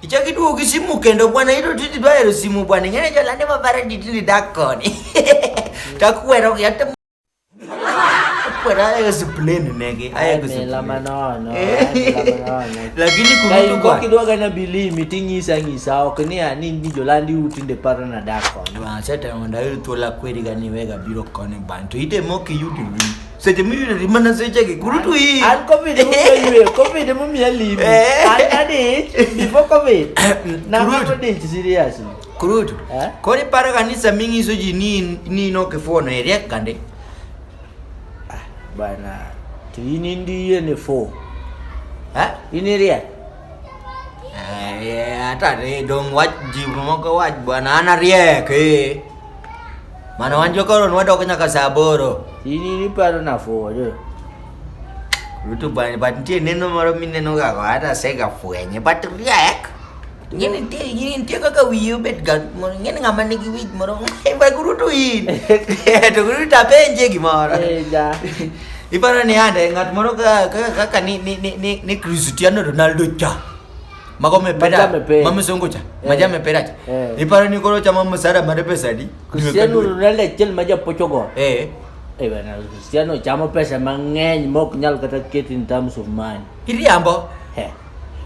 Ichaki duogo gi simu kendo bwana ito titi dwayero simu bwana ing'eyo jolande mabare ditili dak koni takwero gi ate kwero ayo sipleni negi ayo Mela manono. Eh. mela manono. lakini Ka kurutu in kwa kokidwa gana bilimi ting'isa ang'isa ok ni ani ni jolandi utinde paro na dak koni. Bwana seta onda yudo thuola kweri gani wega biro koni bwana to ite moki yudi seche miyudo di mana sechegi kuru to iyi an covid mumeyueyo covid mumiya limi Eh. an adich before covid Kurut. namato dich seriously kurut Eh? koro iparo ga ni sama ing'iso ji ni in- ni in ok ifuono iriek kande bana to in indiye ne fo Eh? in iriek Eh, ata re dong wach ji moko wach bwana an ariek eh. Mano wan jokoro nwadok nyaka saa aboro. Ini niparo nafuoyo. Ruto bani but nitie neno moro mineno ga hata sega fwenye but riek. Ngene nitie ngene nitie kaka wiye obet ga moro ngene ng'ama nigi wich moro ba Ruto in. To Ruto apenje gimoro. Eh, ja. Iparo ni ande ng'at moro ka- ka- kaka ni ni ni ni- ni Cristiano Ronaldo cha. mako mepera mami songocha eh. maja meperacha eh. iparo ni koro chama msara mare pesa di Cristiano Ronaldo chel maja pochogo eh eh bana Cristiano chama pesa mang'eny mok nyal kata ket in terms of money iriambo eh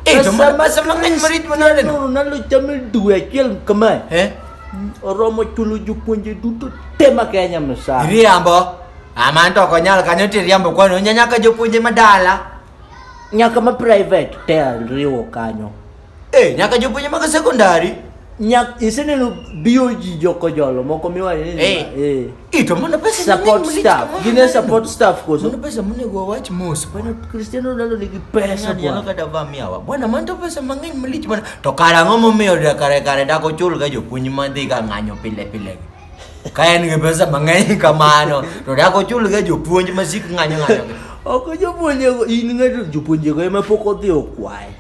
eh to mara pesa mang'eny marit manade no Ronaldo chama due achiel kama eh oromo chulo jopuonje duto te ma Kenya msara iriambo amanto konyal kanyo tiriambo kwano nyanyaka jopuonje madala nyaka ma private te riwo kanyo eh nyaka jopuonje mag secondary nyak iseneno BOG jokojolo moko miwacho ni Eh. eh ito mana pesa support mang'eny staff mang'eny. gine support staff koso Mano pesa monego wawach mos bwana Cristiano Ronaldo nigi pesa Ng'ani nyalo bwana kata va miawa bwana man to pesa mang'eny malich mana to kara ang'o momiyo da- kare kare dak ochul ga jopuonj madhi ga ng'anyo pile pile gi Ka en gi pesa mang'eny kamano to dak ochulga jopuonj masik ng'anyo ng'anyo. Ok jopuonje in ng'ato jopuonje go ema pok odhi okwaye.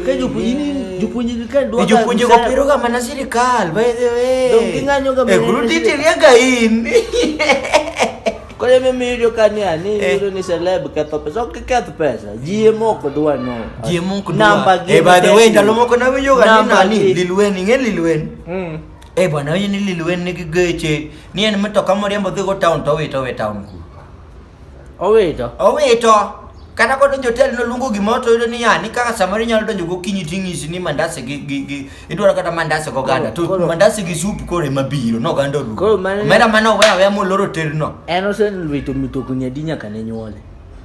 Ka jopuonje jopuonje ka dwa jopuonje go piro ga mana sirikal by the way. Dong ging'anyo ga. E guru titiria ga in. Kore me miyo ka ni ani eh. yudo ni celeb ketho pesa. Ok keth pesa. Ji moko dwa no. Ji moko dwa. Namba gi. E by the way ndalo moko nawinjo ga ni nani Lil Wayne, ing'e Lil Wayne? Mm. Eh bwana, wewe ni Lil Wayne nigi geche. Ni en mtoka moriembo dhi go town to owito we town ku. Owito. Owito. Kata ko donjo hotel no lungo gima to yudo ni yani kaka samari nyalo donjo go kinyi tingisi ni mandase gi gi gi idwaro kata mandase go ganda to Koro- mandase gi soup kore mabiro no ganda ru. Koro mano- Mera mano wewe mo loro hotel no. En oselwito mitokni adi nyaka ne nyuole?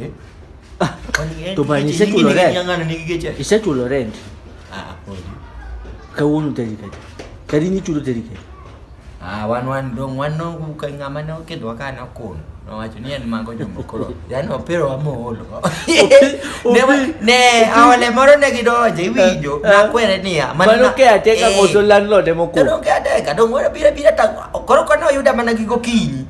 Eh? Ah, to ba ni secular rent. Ng'ang'ana nigi geche. I secular rent. Ah, podi. Kawuono teri kae. Kadi ni chulo teri kae. Ah, wan wan dong wan no ka ng'ama ne okedwa ka na kun. Nowacho ni en mago jombo koro. Yaani opiro wa moolo. Ne wa- ne awale moro ne gidonje iwinjo. Nakwere niya. man- Mano ke ateka Eh. koso landlord emo ko. Tero ke adeka dong ora bira bira ta koro kono yuda mana gigo kinyi.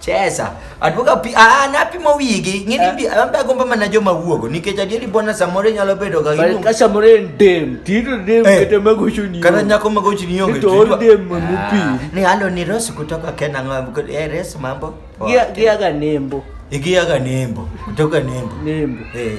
Chesa. Aduoga pi ah napimo wigi. Ng'ini bi ambe agomba mana joma wuogo nikech adieri bwana samore nyalo bedo ga Bari ka samoro en dem, tito dem Eh. kata magocho ni. Kana nyako magochi ni onge. Nito tijwa. ol dem mamupi. Ah, Ni halo ni Rose kutoka Kenya ng'ambo. Eh Rose mambo. Poa. Gia gia ga nembo, Igiaga nembo kutoka nembo. nembo. Eh.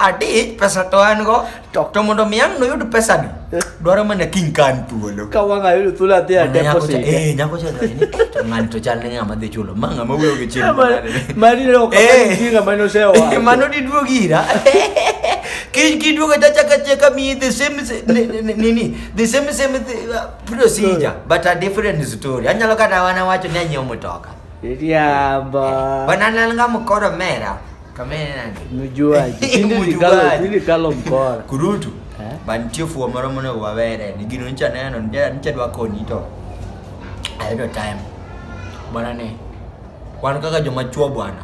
Adi pesa to an go to to mondo mi ang' noyud pesa ni dwaro mana kiny kan thuolo ka wang' ayudo thuolo adhi a deposit eh nyako cha dhani eh, to ng'ani to chal ne ng'ama dhi chulo ma ng'ama wuoyo gi chiro mani ne ok eh. ng'ama ne osewa eh, mano diduog ira kiduogo tachaka cheka mi the same nini the same same uh, procedure hmm. but a different story anyalo kata wana wacho ni anyiewo mtoka riambo banananga mkoro mera Kamera nani? Nujuaji. Tinde Nujuaji. nikalo tinde kalo mkora. Kurutu. Eh? Mantie fuo moro monego wawere. Ni gino ncha neno, ncha ncha dwa koni to. Ayudo time. Bwana ne. Wan kaka joma chuo bwana.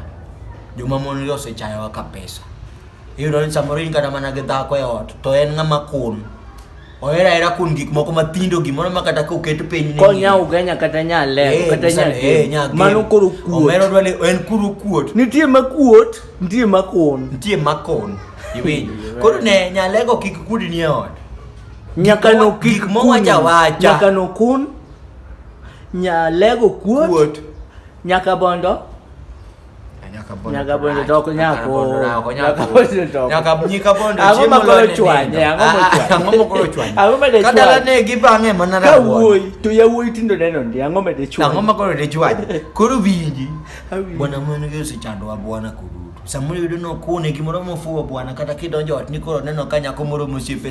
Joma mon yo osechayowa ka pesa. Iyudo ni samoro in kata mana gi dhako e ot to en ng'ama kun. Ohera hera kun gik moko mathindo gimoro ma kata ka oket piny ni. Konya ugenya kata nya lero eh, kata nya. Eh, nya Mano koro kuot. Omero dwale en kuru kuot. Nitie ma kuot, nitie ma kon. Nitie ma kon. Iwinjo. Koro ne nya lego kik kudi ni e ot. Nyaka no kik mo wacha wacha. Nyaka no kun. Nya lego kuot. Kuot. Nyaka bondo. nyakabondo to ok nyal koro nyakabondo ang'o ma koro chwanye ang'o ma ah, ah, mokoro chwanye ang'o ma de chwanye kadala ne gi bang'e mana na wuoyi to yawuoyi tindo neno ndi ang'o ma de chwanye ang'o ma koro de chwanye koro winji bwana mwana gi osechandowa bwana kuru samoro yudo nokune gimoro mofuwo bwana kata kidonjo ot ni koro neno ka nyako moro mosiepe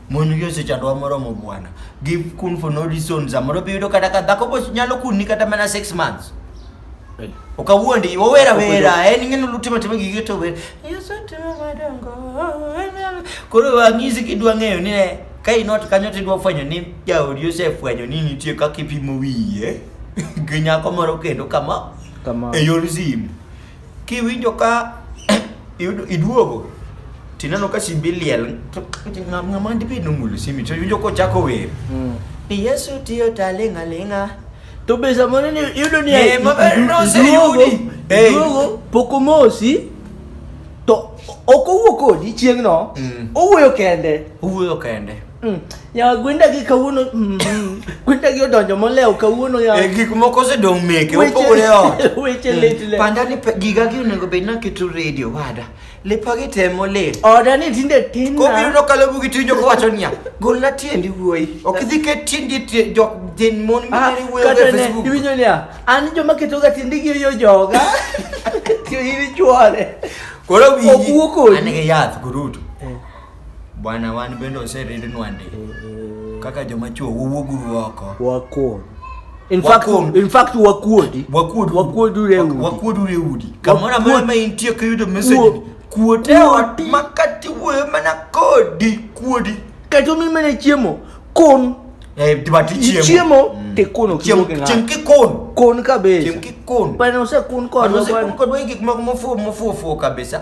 mon gi osechandowa moromo bwana give kun for no reason samoro biyudo kata ka dhako bo nyalo kunni kata mana six months okawuondi owera wera en ing'eno lutimo timo gige to wer yasetimo madongo koro wang'isi kidwa ng'eyo ni ne ka inot kanyo tidwa fwenyo ni jaodi osefwenyo ni nitie kaka ipimo wiye gi nyako moro kendo kama Kama. e yor simu Kiwinjo ka iduogo tineno ka simbi liel ng'ama dibed nomulo simbi to iwinjo kochako wer mm. ni Yesu tiyo taling'a ling'a to be samoro iyudo ni eh, duogo pok omosi to ok owuo kodi chieng'no mm. owuoyo kende owuoyo kende Mm. Yawa gwenda gi kawuono mm, mm. gwenda gi odonjo molewo kawuono yawa. Eh, gik moko osedong' meke Weche- opogore ot weche lit le. panda ni pe- giga gi onego bed naketo redio wada lepa gi tem molit Oda ni tinde tin na. kobiro kalo bugi tiwinjo kowacho niya golna tiendi wuoyi ok idhi ket tiendi tie- jok jin mon Ah, mineri wuoyo kata e ne facebook iwinjo niya an joma ketoga tiende gi yo joga tiyo in ichwore koro Ok wuo kodi. an gi yath kurutu Bwana wan bende oseridnwa ndi. Kaka joma chuo wuwuguru oko. Wakuon. In fact, Wakuon. in fact wakuodi. Wakuod Wakuod ure udi. Wakuod ure udi. Kamora Wakuod- mama intie kiyudo message. Kuo- Kuote ot kuodi. makati wuoyo mana kodi kuodi. Kato mi mene chiemo. Kon. Eh but ichiemo. Ichiemo te kono Chiemo kidogo ng'a. chieng kikon. Kon kabisa. Chieng kikon. Bwana usekun kodwa Kodwa bwana. kodwa gik moko mofuo mofuo fuo kabisa.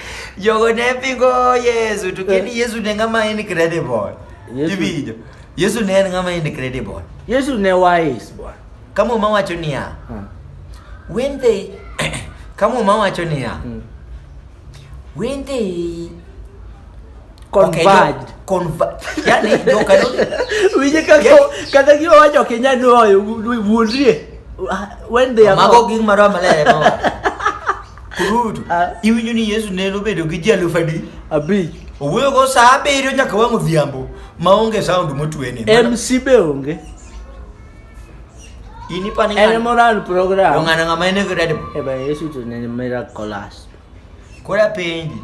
Yogonepingo Yesu to kendo eh. Yesu ne ng'ama incredible. Iwinjo. Yesu ne en ng'ama incredible. Yesu ne wise bwana. Kama uma wacho niya. Hmm. When they kama uma wacho niya. Hmm. When they converged yani winje kata gi wacho kinya nuoyo wuondrie ah, when they are mago ging marwa malere Kurutu. Ah. Iwinjo ni Yesu ne nobedo gi ji alufu adi? Abich. Owuoyo go saa abiriyo nyaka wang' odhiambo maonge sound motwene. MC be onge. Ini paling Ene moral program. Dong ana ngama ene kira dep. Eba Yesu tu nene mera kolas. Kora penji.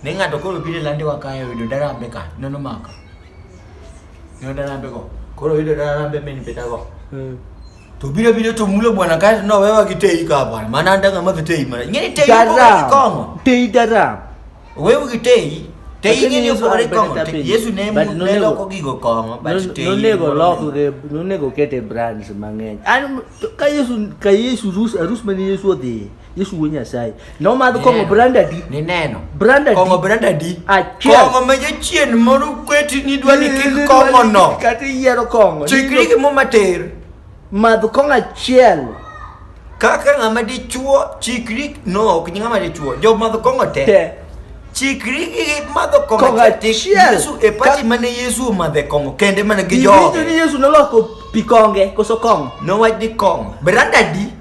Ne ngato koro bire lande wa kaya wido dara ambe ka. Nono maka. Nono dara ambe ko. Koro wido dara ambe meni peta ko. Hmm. To biro biro to mulo bwana kae no wewa gi tei ka bwana. Mana ndanga ma tei mana. Ngeni tei ko kongo. Tei dara. Wewe gi tei. Tei ngeni opore kongo. Yesu ne mu ne loko gigo kongo. But tei. Nonego loko ge nonego kete brands mang'eny. An ka Yesu ka Yesu rus arus mani Yesu odhi. Yesu wuo Nyasaye. Nomadh kong'o Neno. brand adi? Ni neno. Brand adi? Kong'o brand adi? Achiel. Kong'o ma jachien moro kweti ni dwa ni kik kong'o no. Kata iyiero kong'o. Chikri gi muma ter. Madh kong'o achiel. Kaka ng'ama dichuo chikri no ok ng'ama dichuo. Jo madh kong'o te. Te. Chikri gi madho kong'o Kong'o achiel. achiel. Yesu e pati Ka- mane Yesu omadhe kong'o kende mana gi Iwinjo ni joge. Yesu noloko pi konge koso kong'o. Nowach ni kong'o. Brand adi?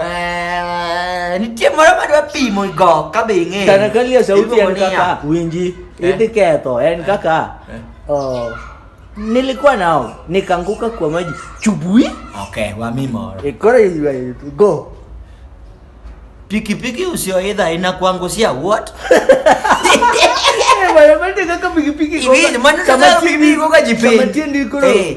Eh, nitie moro madwa pimo go ka be ing'eyo Tana ka lia sauti Iluongo en ni kaka ya. winji Eh. idhi ketho en kaka Eh. oh, nilikuwa nao nikaanguka kwa maji chubui okay wami moro ikora iwe- go pikipiki usioidha inakuangushia what Eh, bwana, bwana, kaka pikipiki Hivi, gonga- maana kama sasa tieni- pikipiki gonga jipeni. kama tieni ikora- Eh.